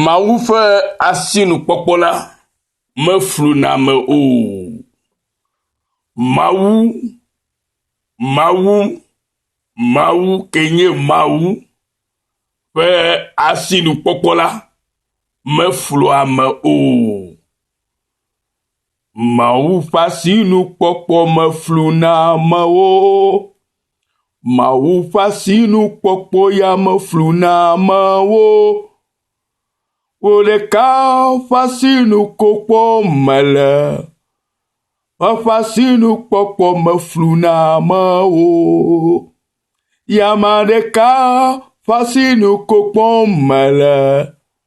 Mawu ƒe asinukpɔkpɔ la mefluna ame o. Mawu, Mawu, Mawu ke nye Mawu ƒe asinukpɔkpɔ la meflua ame o. Mawu ƒe asinukpɔkpɔ me flu na amewo. Mawu ƒe asinukpɔkpɔ ya me flu na amewo. Wò ɖeka ƒe asinukpɔkpɔ mele. Eƒe asinukpɔkpɔ me flu na amewo. Ye ame ɖeka ƒe asinukpɔkpɔ mele.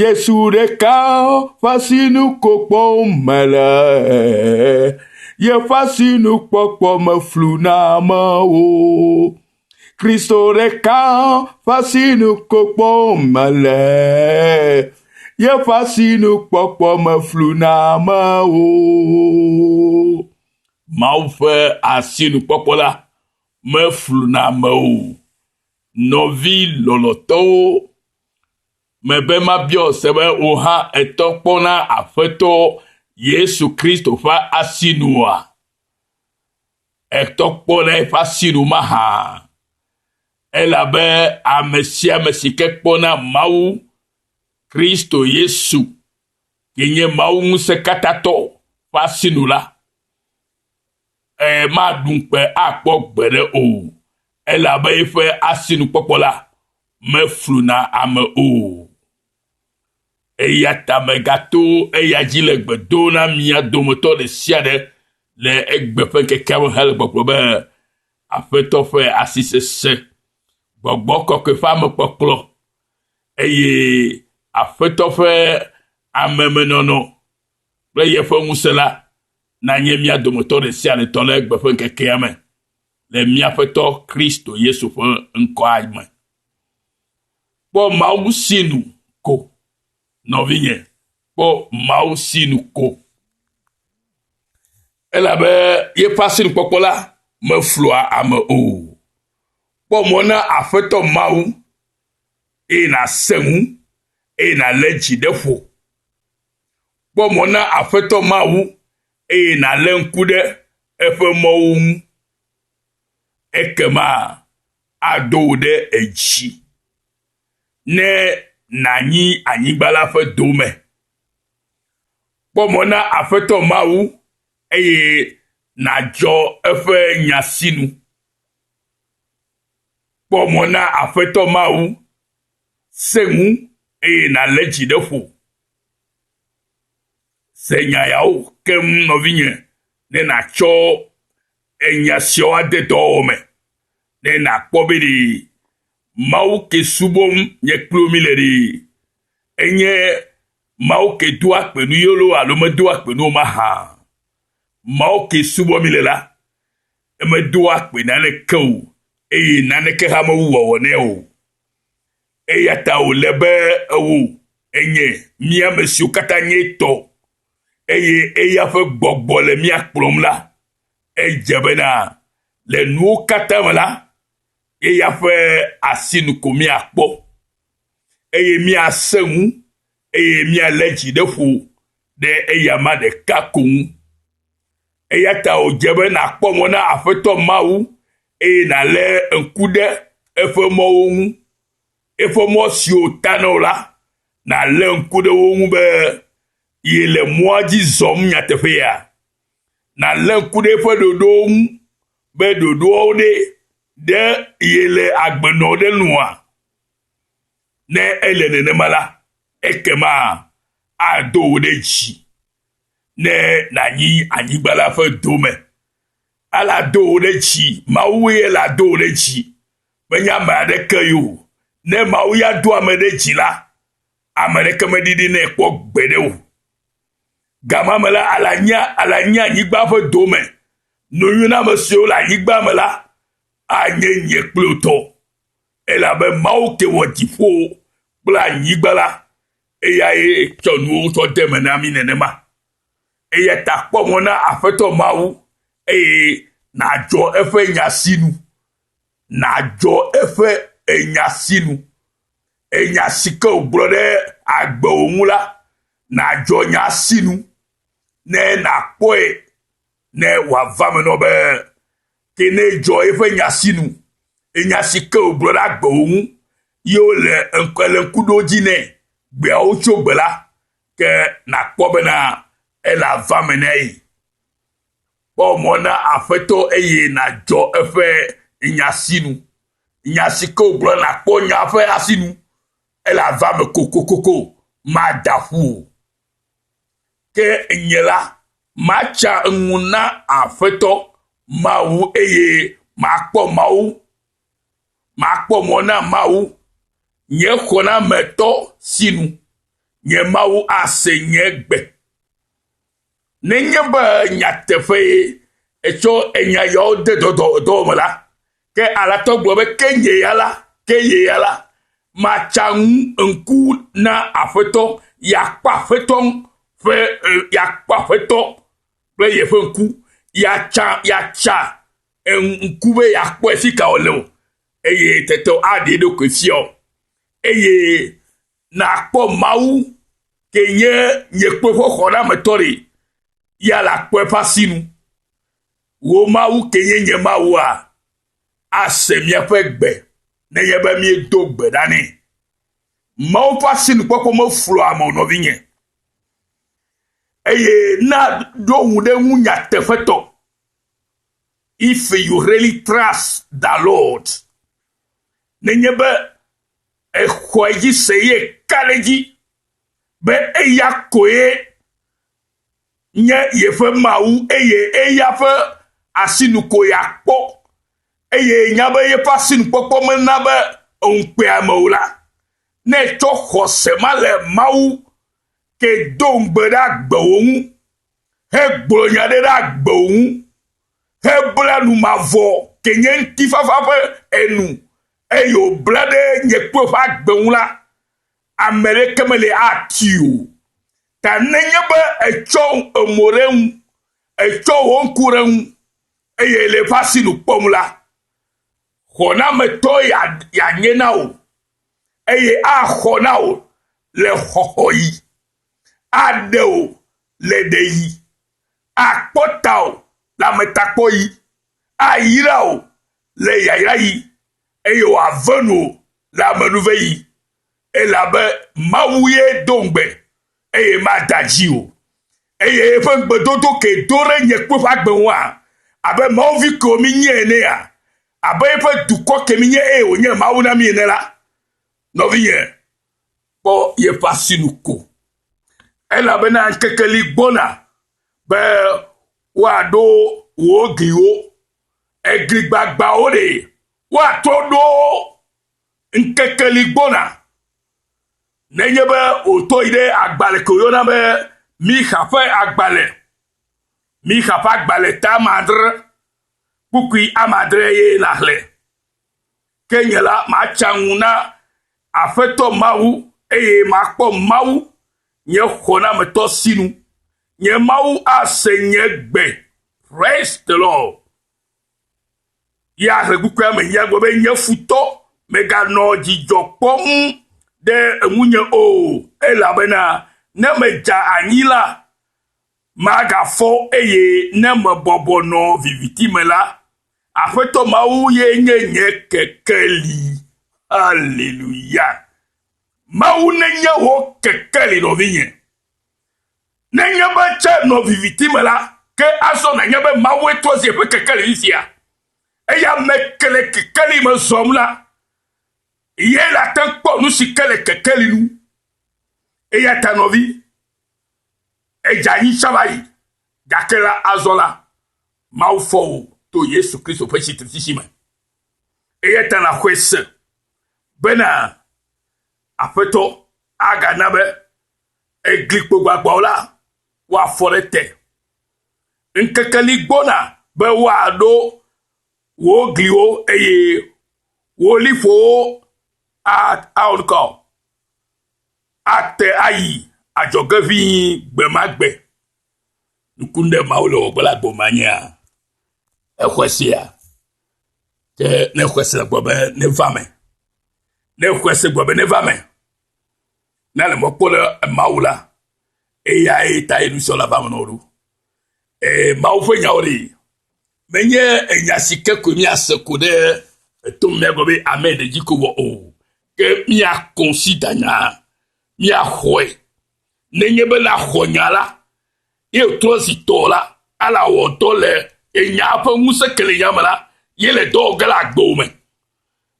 Yesu ɖeka ƒe asinukpɔkpɔwo me le yeƒe asinukpɔkpɔ me flu na amewo. Kristo ɖeka ƒe asinukpɔkpɔwo me le yeƒe asinukpɔkpɔ me flu na amewo. Mawu ƒe asinukpɔkpɔ la meflu na amewo. Nɔvi lɔlɔtɔwo, mebe mabiɔ se be wò hã ètɔ kpɔ na Aƒetɔ Yesu Kristo ƒe asinua? Ètɔ kpɔ na eƒe asinu mahã? Elabe ame sia ame si ke kpɔ na Mawu, Kristo Yesu, si nye Mawu ŋusẽkatãtɔ ƒe asinu la, Eye maɖu ŋukpe akpɔ gbeɖe o, elabe eƒe asinukpɔkpɔ la mefluna ame o. Eya ta megato eya dzi le gbe dom na mia dometɔ ɖe sia ɖe le egbe ƒe ŋkekea me hele gbɔgblɔ be, Aƒetɔ ƒe asi sesẽ, gbɔgbɔ kɔkɔe ƒe amekpɔkplɔ, eye Aƒetɔ ƒe amemenɔnɔ kple yeƒe ŋusẽ la nanye mía dometɔ ɖe sia ɖe tɔ le egbe ƒe ŋkekea me le mía Aƒetɔ Kristo Yesu ƒe ŋkɔa me. Kpɔ Mawu sinu ko, nɔvinye, kpɔ Mawu sinu ko. Elabe yeƒe asinukpɔkpɔ la meflua ame o. Kpɔ mɔ na Aƒetɔ Mawu, eye nàsẽ ŋu, eye nàlé dzi ɖe ƒo Kpɔ mɔ na Aƒetɔ Mawu, eye nàlé ŋku ɖe eƒe mɔwo ŋu. Ekema ado wò ɖe edzi ne nànyi anyigba la ƒe dome. Kpɔ mɔ na Aƒetɔ Mawu, eye nàdzɔ eƒe nya sinu. Kpɔ mɔ na Aƒetɔ Mawu, sẽ ŋu, eye nàlé dzi ɖe ƒo. Se nya yawo keŋ, nɔvinye, ne nàtsɔ enya siawo ade dɔwɔwɔ me, ne nàkpɔ be ɖe Mawu ke subɔm nye kple wo míle ɖee, enye Mawu ke doa gbe nu ye loo alo medoa gbe nu o mahã. Mawu ke subɔm míle la, emedoa gbe naneke o eye naneke hã mewu wòawɔ nɛ o. Eya ta wòle be ewò, enye, mí ame siwo katã nye etɔ, eye eya ƒe gbɔgbɔ le mía kplɔm la, edze bena le nuwo katã me la, eya ƒe asi nu ko míakpɔ, eye míasẽ ŋu, eye míalé dzi ɖe ƒo ɖe eyama ɖeka ko ŋu. Eya ta wòdze be nàkpɔ mɔ na Aƒetɔ Mawu eye nàlé ŋku ɖe eƒe mɔwo ŋu, eƒe mɔ siwo ta na wò la, nàlé ŋku ɖe wo ŋu be yele mɔa dzi zɔm nyateƒea? Nàlé ŋku ɖe eƒe ɖoɖowo ŋu be ɖoɖoawo ɖe ɖe yele agbe nɔ ɖe nua? Ne ele nenema la, ekema ado wò ɖe dzi ne nànyi anyigba la ƒe dome Alado wò ɖe dzi, Mawue lado wò ɖe dzi, menye ame aɖeke yo. Ne Mawu ya do ame ɖe dzi la, ame ɖeke meɖiɖi nɛ kpɔ gbeɖe o. Gama me la, alanya, alanya anyigba ƒe dome. Nuyuname siwo le anyigba me la, anye nye kple wò tɔ. Elabe Mawu ke wɔ dziƒo kple anyigba la, eyae tsɔ nuwo tsɔ de me na mi nenema. Eya ta kpɔ mɔ na Aƒetɔ Mawu, eye nàdzɔ eƒe nya sinu. Nàdzɔ eƒe enya sinu. Enya si ke wògblɔ ɖe agbewò ŋu la, nàdzɔ nya sinu ne nàkpɔe ne wòava me nɔ be, ke ne edzɔ eƒe nya sinu, enya si ke wògblɔ ɖe agbewò ŋu, ye wole ŋkuɖodzi nɛ gbeawo tso gbe la, Ke nàkpɔ bena ele avea me na ye. Kpɔ mɔ na Aƒetɔ eye nàdzɔ eƒe nya sinu. Nya si ke wògblɔ la, kpɔ nyaa ƒe asinu. Ele avea me kokokoko, mada ƒu o. Ke nye la, matsa ŋu na Aƒetɔ Mawu eye makpɔ Mawu Makpɔ mɔ na Mawu, nye xɔnametɔ si nu nye Mawu ase nye gbe. Nenye be nyateƒee etsɔ enya yawo de dɔdɔdɔ me la, ke Alatɔ gblɔ be, Ke nye ya la, ke nye ya la, matsa ŋu ŋku na Aƒetɔ, yeakpɔ Aƒetɔ ƒe, yeakpɔ Aƒetɔ kple yeƒe ŋku, yeatsa, yeatsa ŋku be yeakpɔe fi ka wòle o eye tete aɖe eɖokui fia o eye nakpɔ Mawu ke nye nye kpɔ ƒe xɔnametɔ ɖi ya le akpɔ eƒe asinu. Wò Mawu ke nye nye Mawua ase míaƒe gbe nenye be míedo gbe ɖa nɛ. Mawu ƒe asinukpɔkpɔ meflɔa ame o nɔvinye eye na ɖo ŋu ɖe ŋu nyateƒetɔ. If you really trust the Lord, nenye be exɔe dzi se ye ka ɖe dzi be eya koe nye yeƒe Mawu eye eya ƒe asinu ko yeakpɔ eye nya be yeƒe asinukpɔkpɔ mena be ŋukpea me o la, ne etsɔ xɔse ma le Mawu ke do ŋugbe ɖe agbewo ŋu hegblɔ nya ɖe ɖe agbewo ŋu hebla nu mavɔ ke nye ŋutifafa ƒe enu eye wòbla ɖe nye kple ƒe agbe ŋu la, ame ɖeke meli atui o. Ta nenye be ètsɔ emo ɖe ŋu, ètsɔ wò ŋku ɖe ŋu, eye le eƒe asi nu kpɔm la, xɔnametɔ yeanye na wò, eye axɔ na wò le xɔxɔɣi. aɖe o le ɖeyi, akpɔ tawò le ametakpɔɣi, ayra wò le yayraɣi, eye wòave nuwò le amenuveɣi, elabe Mawu ye do ŋugbe, eye mada dzi o, eye eƒe ŋugbedodo ke do ɖe nye kple ƒe agbe ŋua? Abe mawuvi kewo mienye enea? Abe eƒe dukɔ ke mienye eye wònye Mawu na mi ene la, nɔvinye, kpɔ yeƒe asinu ko, elabena ŋkeke li gbɔna be woaɖo wò gliwo, egli gbagbãwo ɖe woatrɔ ɖo wo. Ŋkeke li gbɔna, nenye be wòtɔ yi ɖe agbalẽ ke wòyɔna be Mixa ƒe agbalẽ, Mixa ƒe agbalẽ te amadre, kpukpui amadre ye nàxlẽ. Ke nye la, matsa ŋu na Aƒetɔ Mawu, eye makpɔ Mawu, nye xɔnametɔ sinu. Nye Mawu ase nye gbe. Praise the Lord. Ya he kukua me ya gbe be nye futɔ meganɔ dzidzɔ kpɔm ɖe eŋunye o, elabena ne medza anyi la, magafɔ eye ne mebɔbɔ nɔ viviti me la, Aƒetɔ Mawu ye nye nye kekeli. Aleluya. Mawu nenye wò kekeli nɔvinye. Nenye be tse nɔ viviti me la, ke azɔ nanye be Mawue trɔ zi eƒe kekeli fifia. Eya me ke le kekeli me zɔm la, ye la te kpɔ nu si ke le kekeli nu. Eya ta nɔvi, Edze anyi tsã va yi. Gake la, azɔ la, Mawu fɔ wò to Yesu Kristo ƒe tsitretsitsi me. Eya ta nàxɔe se bena Aƒetɔ agana be eglikpo gbagbãwo la woafɔ ɖe te. Ŋkeke li gbɔna be woaɖo wò gliwo eye wò liƒowo awɔ nu ka o. ate ayi adzɔge ʋĩi gbe ma gbe. Nuku ɖe Mawu le wɔgbe le agbo ma nyea? Exɔe sia. Ke ne exɔe se gbɔ be neva me. Ne exɔe se gbɔ be neva me. Ne le mɔ kpɔ le Mawu la, eyae ta ye nusɔ la va me nɔɖo. Ee, Mawu ƒe nyawo li. Menye enya si ke koe míase ko ɖe eto mea gbɔ be ame ɖe dzi ko wɔ o. Ke mía kɔnsidanyaa, mía xɔe, nenye be na xɔ nya la, ye toa si tɔ la, ala wɔtɔ le ye nyaa ƒe ŋuse kelenya me la, ye le dɔ wɔ ge le agbewo me.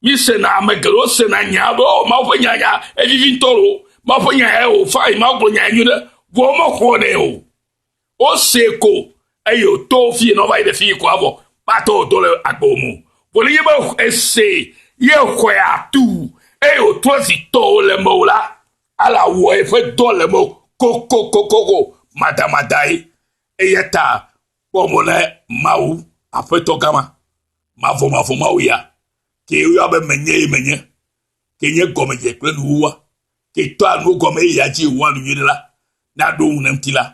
Mi sena, ame geɖewo sena nyaa be, ɔ, Mawu ƒe nya nya, evivi ŋutɔ loo, Mawu ƒe nya yae o, fine, Mawu gblɔ nya nyuiɖe, vɔ wo me xɔ nɛ o. Wose ko eye wòto fi nɔ va yi ɖe fi ko avɔ kpatɔ wòto le agbo mo. Vɔ ne yebe ese ye xɔe atu eye wòtrɔ zi tɔwo le meo la, ale awɔ eƒe dɔ le meo kokokokoko madamadaae. Eya ta kpɔ mo na Mawu, Aƒetɔ gã ma, mavɔmavɔ̃ Mawu ya, ke woyɔa be Menye ye menye, ke nye gɔmedze kple nuwuwua, ke tɔa nuwo gɔme eye ya dzi wòwɔa nu nyuiɖe la, ne aɖo ŋu ne ŋuti la,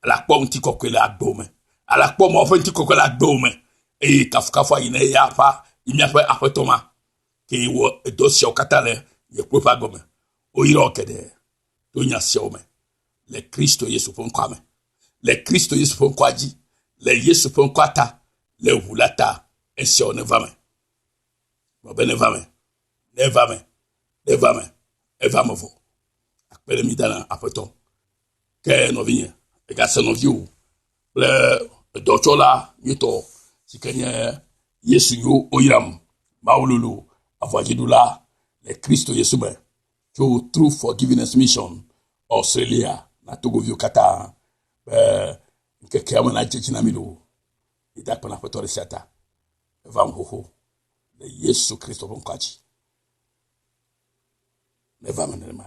ele akpɔ ŋutikɔkɔe le agbewo me. Ele akpɔ Mawu ƒe ŋutikɔkɔe le agbewo me, eye kafukafu ayi na eya ƒe, yi míaƒe Aƒetɔ ma, ke wɔ edɔ siawo katã le nye kple ƒe agbe me. Woyrɔ geɖe to nya siawo me le Kristo Yesu ƒe ŋkɔa me, le Kristo Yesu ƒe ŋkɔa dzi, le Yesu ƒe ŋkɔa ta, le ʋu la ta, esiawo neva me. Gblɔ be neva me, neva me, neva me, eva me vɔ. Akpe ɖe mi da na aƒetɔ. Ke nɔvinye, egase nɔviwo kple edɔtsɔla nyuitɔ si ke nye Yesu yo woyram. Mawu lolo aʋadziɖula le Kristo Yesu me tso True Forgiveness Mission Australia na Togoviwo katã be ŋkekea me nadze dzi na mi loo. Mi da akpe na Aƒetɔ ɖe sia ta. Eva ŋu xoxo le Yesu Kristo ƒe ŋkɔa dzi. Neva me nenema.